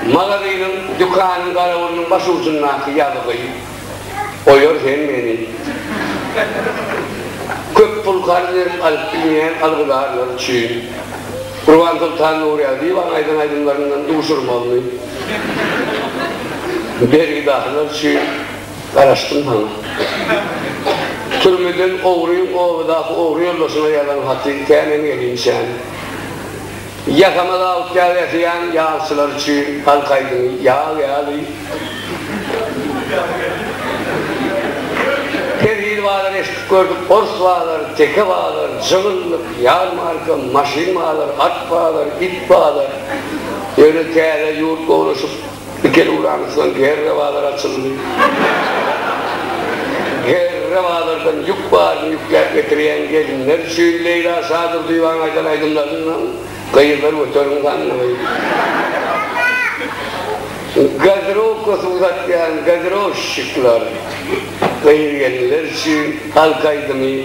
Magazynyň, dükanyň garawulynyň baş ujundaky ýazgy oýar hem meni. Köp pul karz berip alyp bilmeýän algydarlar üçin Gurbansoltan Nurýagdyýewanyň aýdan aýdymlaryndan duşurmagymy Bergidahylar üçin garaşdym saňa. Türmeden ogryň obadaky ogry ýoldaşyna ýazan haty känem gelinçäm. Ýakamyz awut ýag ýasaýan ýagçylar üçin halk aýdymy Ýag ýaly Perhili bazar eşidip gördük, ors bazar, teke bazar, jygyllyk, ýarmarka, maşyn bazar, at bazar, it bazar, ýöne täze ýurt gowlaşyp, Ikili ulanysdan GR bazar açyldy. GR bazardan ýük baryny ýükläp getirýän gelinler üçin Leýla Şadurdyýewanyň aýdan aýdymlaryndan Gyzlar göteriň sandygy, Gazirowkasy uzatýan gazirowşşikler, gyz-gelinler üçin halk aýdymy,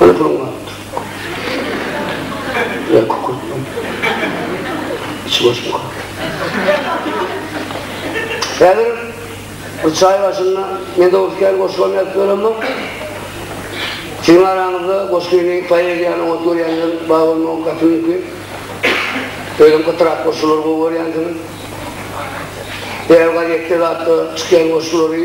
Öýküň bardyr. Ýa kükürtmiň. Içi boşmyka? Häzir bir çaý başynda men dogrusu kän goşgam ýazyp ýöremok. Siziň araňyzda goşgyny poeziýany oňat görýänler bar bolmagy gaty mümkin. Özem gytrak goşgulary gowy görýänsiňiz. Ýerel gazetde zatda çykýan goşgulary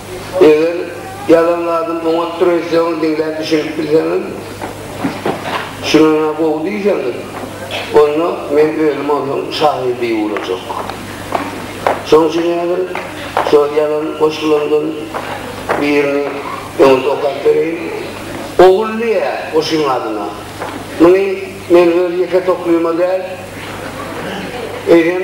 Eger ýalan zadyň oňat treşlerini diňläp bişirip bilseňiz, şuny-ha gowy diýseňiz, onda men özüm onuň şahydy bolajak. Şoň üçin häzir şol ýalan goşgularymdan birini öňüňize okap bereýin. Ogul diýýär goşgyň adyna. Muny men öz ýeke toklyma däl, eýsem,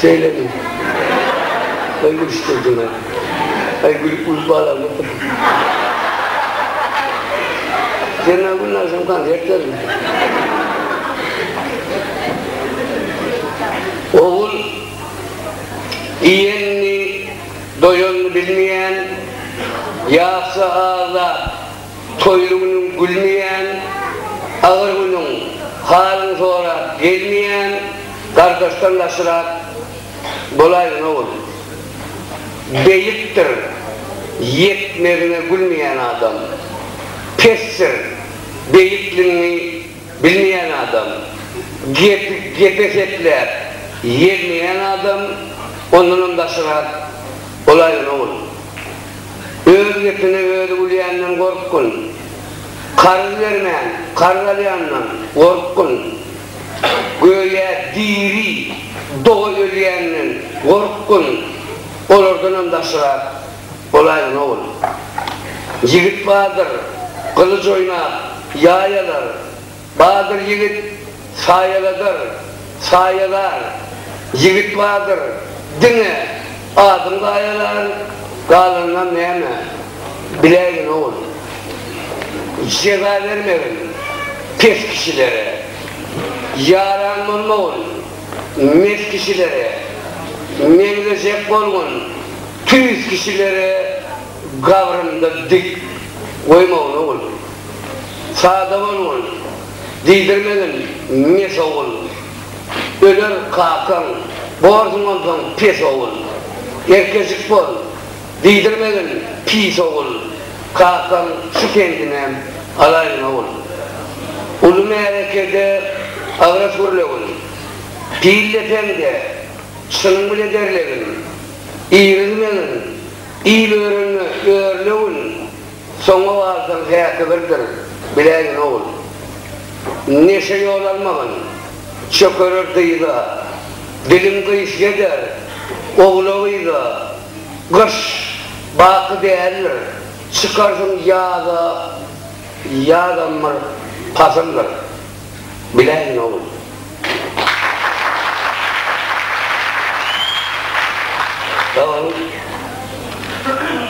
Şeýlemi? Aý gülüşdirdiňä. Aý gülüp gülüp balam otur. Jena gün agşam konsert berdi. Ogul iýenini doýanyny bilmeýän ýagşy agzap Toýly günüň gülmeýän, agyr günüň halyňy sorap gelmeýän gardaşdan gaçyrak bolaýdyň ogul. Beýikdir ýetmezine gülmeýän adam. Pesdir beýikligiňi bilmeýän adam. Gepi gepe sepläp ýermeýän adam ondanam gaçyrak bolaýdyň ogul. Öz gepine özi gülýänden gorkgyn. Karz bermän, karz alýandan gorkgyn. Göýä diri doga ölýänden gorkgyn. Olardanam daşrak bolaýgyn, ogul. Ýigit bardyr, gylyj oýnap, ýaý alar. Badyr ýigit saýaladar, saýalar, Ýigit badyr, diňe adyň gaýalar, Galanynam näme, biläýgin ogul. Jeza bermegin pes kişilere, Ýaran bolmagyn mes kişilere, Meňzejek bolgun tüýs kişilere. Gabrymda dik goýmagyn ogul. Sada bolgun, diýdirmegin mes ogul. Öler kakaň, borsuň onsoň pes ogul. Erkejik bol, diýdirmegin pis ogul. Kakaň şu kendinem alaýyn ogul. Uly märekede agras gürlegin. Pil depeňde çynyň bile derlegin. Irizmegin Il öwrenme, örnewin, Soňa galsaň häki birdir, biläýgin ogul. Neşe ýol almagyn, Çökerer dyza, Dilim gyş ýeder, Ogla-gyza, Gyş, baky däldir, Çykarsyň ýaza, Ýazam bir pasyldyr. Biläýin ogul. Sagboluň.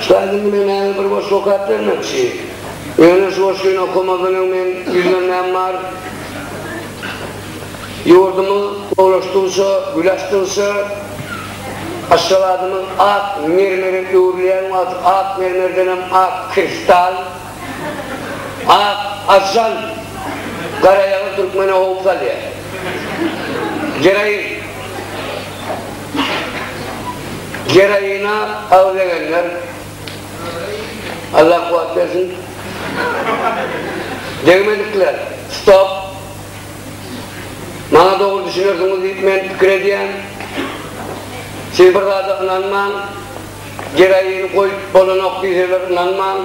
Ussat indi men mäňe bir goşgy okap bermekçi. Ýöne şu goşgyny okamazdan öň men ýüzlenmäm bar. Ýurdumyz gowulaşdygyça, gül açdygyça, Aşgabadymyz ak mermere öwrülýän wagty ak mermerdenem ak kristal, Ak ažjan garaýagyz türkmene howp salýar. Geroin. Geroina agzegenler Allah kuwat bersin. Degmedikler. Stop. Maňa dogry düşünersiňiz diýip men pikir edýän. Siz bir zada ynanmaň. Geroin goýup bolanok diýseler ynanmaň,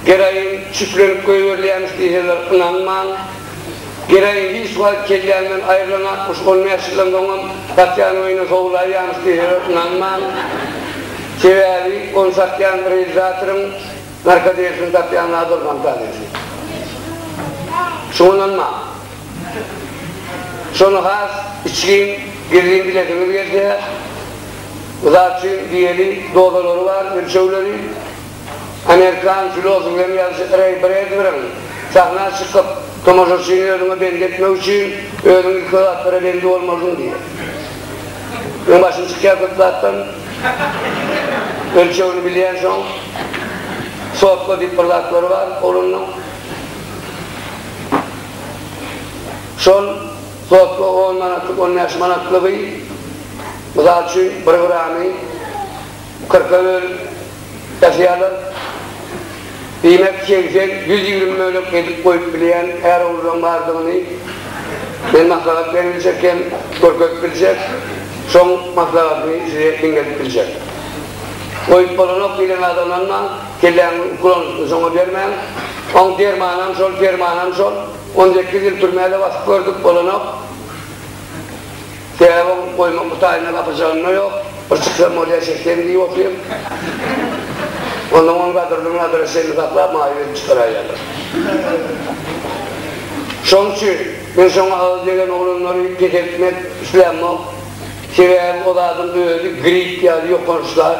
geroin çüplenip goýberilýämiş diýseler ynanmaň. Geroin hiç wagt kellämden aýrylanakmyş, on bäş ýyldan soňam gatýan oýuna sowulaýýamyş diýseler ynanmaň. Sebäbi ony satýan realizatoryň narkodelisini satýan zady ol fantazisini. Şuňa ynanmaň. Şony has içgin, gizlin bilesiňiz gelse, Uzak üçin diýeli dozalary bar, ölçegleri. Amerikan filosof hem ýazyjy Reý Bredberiň sahna çykyp, tomaşaçyny özüňe bendi etmek üçin, özüň ilki zatlara bendi bolmalydyň diýýär. Meň başym çykýar köp zatdan. Ölçegini bilýänsoň, sotga diýip bir zatlary bar oglanlaň. Şol. Sotga on manatlyk, on bäş manatlygy, mysal üçin, bir gramy kyrka bölüp ýasaýarlar. Diýmek, segsen, ýüz ýigrimi bölek edip goýup bilýän är-oglullaň bardygyny men maslahat bermejek hem görkezip biljek, şoň maslahatymy size diňledip biljek. Goýup bolanok diýlen adamlaryna kelläňiň ukulanyşyny şoňa bermäň. Oň dermanam şol, permanam şol. On sekiz ýyl türmäde basyp gördük, bolanok. Sebäbi oň goýmak gutaýyna gapyjygynda ýok. Bir çyksam bolýa çeksem diýip otyr. Onnoň ony gadyrdan gadyra çenli saklap maýyp edip çykaraýýarlar. Şoň üçin men şoňa agyz degen oglanlary peseltmek islämok. Sebäbi o zadyň özi grip ýaly ýokanç zat.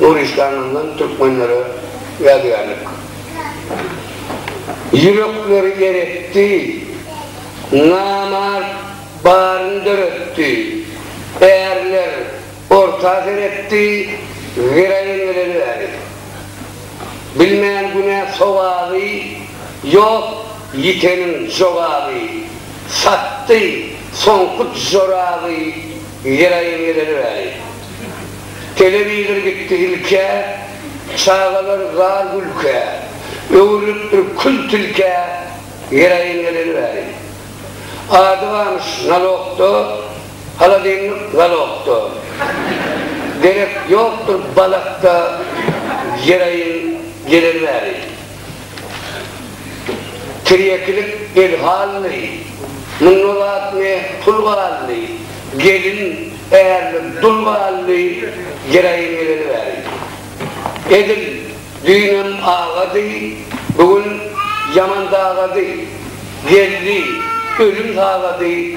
Nuristanyňdan türkmenlere ýadygärlik. Ýürekleri eretdi, namart baryny döretdi, ärler orta seretdi, giraýyn geleli bäri. Bilmän günä sogaby, ýok ýiteniň jogaby, satdy soňky joraby, giraýyn geleli bäri. Telewizor gitdi ilkä, Çagalar zar gülkä, Öwrülip bir kül tilkä, Geraýin geleli bäri. Ady barmyş nalogda, Haladenlik zalogda, Derek ýokdur balakda, Geraýin geleli bäri. Tirýekilik el halyny, munda zat ne, pul galyny, gelin, ärlik, dul galyny jeraýyn geleli bäri. Edil düýnem agady, bu gün ýaman dagady, geldi, ölüm sagady.